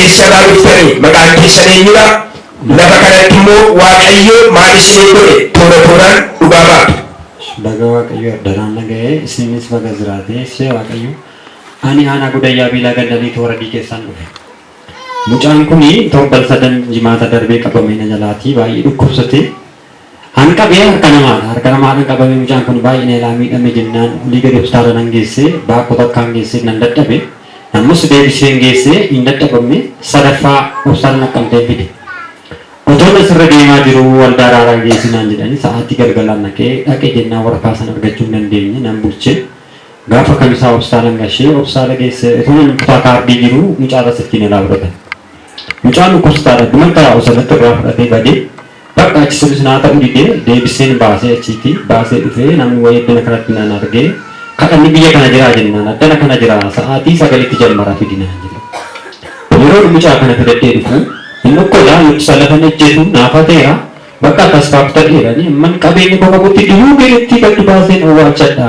eessarraa dhuftanii maqaan keessan eenyudha lafa kanatti immoo waaqayyo maal isinii godhe toora tooraan dhugaa baatu. Baga waaqayyo addaraan naga'ee isinis baga jiraatee ishee waaqayyo. Ani Aanaa Goodayyaa Biilaa Ganda Liixoo Waradii keessaan dhufe. Mucaan kun torban sadan jimaata darbee qabamee na jalaati baay'ee dhukkubsate. An qabee harka namaadha. Harka namaadhaan qabamee mucaan kun baay'ee na ilaa miidhame jennaan olii gadi hospitaala nan geesse baakkoo takkaan geesse nan dadhabe. Ammas deebiseen geesse hin dadhabamne sadaffaa hospitaala naqqamteen fide. Otoon asirra deemaa jiru waldaa araaraa geessi naan jedhanii sa'aatii galgalaan naqee dhaqe jennaan waraqaa san argachuu hin dandeenye nan bulche. Gaafa kamisaa obsaan anna ishee obsaa dhageesse utuu manni kutaa kaardii jiruu mucaa irra sittiin ilaa fudhate. Mucaan dhukkubsataadha duman taa'u sanatti irraa fudhatee badee bakka achi sunis naa ta'u didee deebisseen baasee achiiti baasee dhufee namni wayii addana kanatti nan argee kadhanni biyya kana jiraa jennaan addana kana jira sa'aatii sagalitti jammara fidi naan jedhe. Yeroon mucaa kana fidadhee dhufu hin dhukkola luqsa lafan ejjetu naa fateera bakka akkas faaf ta'eera ani amman qabeenya koo qabutti du'uu keenyatti gad baaseen owwaalchadha.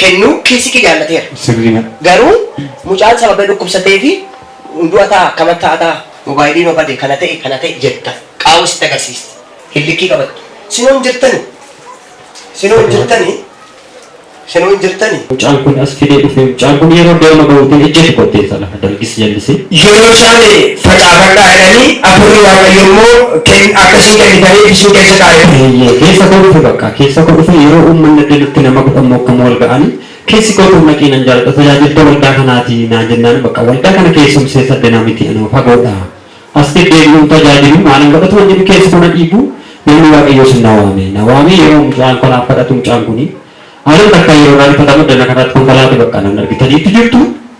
kennuu KCK jaallateera. Sirriidha. Garuu mucaan sababni dhukkubsateefi du'a ta'a akkama ta'a ta'a mobaayilii noo bade kana ta'e kana ta'e jetta qaawwa sitti agarsiisti hin likkii qabattu sinoo hin jirtani sinoo hin jirtani sinoo hin jirtani. Mucaan kun as fidee dhufee mucaan kun yeroo deema gahuutiin ejjeetu kotteessadha. Dargis jallise. Yeroo isaan facaafadhaa jedhanii Hafuurri Waaqayyoo immoo ken akka isin kennitaniif isin keessa kaa'e ture. Eeyyee, keessa koo dhufe bakka. Keessa koo dhufe yeroo uummanni addadutti nama kudhan moo akkam wal ga'anii keessi koo dur naqii nan jaaladha tajaajiltuu waldaa kanaati naan jennaan bakka waldaa kana keessumsee saddenaa miti anoo fagoodha as deddeebi'uun tajaajilu maalan godhatu wan jedhu keessi koo na dhiibu namni Waaqayyoo sun na waame na waamee yeroo mucaan koo naaf kadhatu mucaan kuni haaluma takkaa yeroo naa rifatamu addana kanaatti konkolaate bakka nan argitaniitti jirtu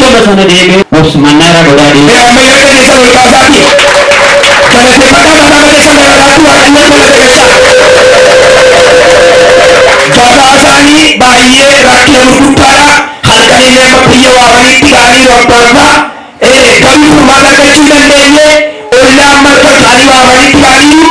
Gama sana deemee obsu mannaa irraa godaa deema. Mee amma yaada keessan ol kaasaatii galateeffadhaa mataa mataa keessan daraaraattuu Waaqayyoon galateeffachaa. Gabaasaanii baay'ee rakkina gurguddaadha. Halkan illee amma biyya waamaniitti ga'aniiru abbaanfaa. Ee garuu furmaata argachuu hin dandeenye. Ollaan marfa isaanii waamaniitti ga'aniiru.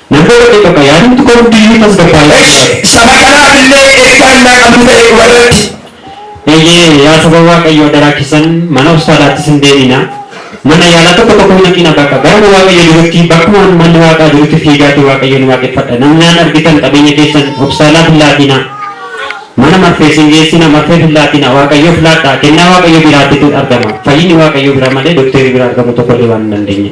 Namni warri bakka yaadamtu kam hunduu iyyuu tasgabbaa'ee akka Esh! jiraatu. Saba kanaaf illee ergaa innaa qabdu ta'e dhuma irratti. Eeyyee, yaa saba Waaqayyoo adaraa keessan mana hospitaalaattis hin deeminaa, mana yaalaa tokko tokko hin dhaqiinaa bakka garuma Waaqayyo jirutti, bakkuma manni Waaqaa jirutti fiigaatii Waaqayyoon waaqeffadha. Namnaan argitan qabeenya keessan hospitaalaaf hin laatiinaa, mana marfees hin geessiinaa, marfeef hin laatiinaa, Waaqayyoof laadhaa, kennaa Waaqayyo biraatitu argama. Fayyinni Waaqayyo biraa malee dokteerii biraa argamu tokko illee waan hin dandeenye.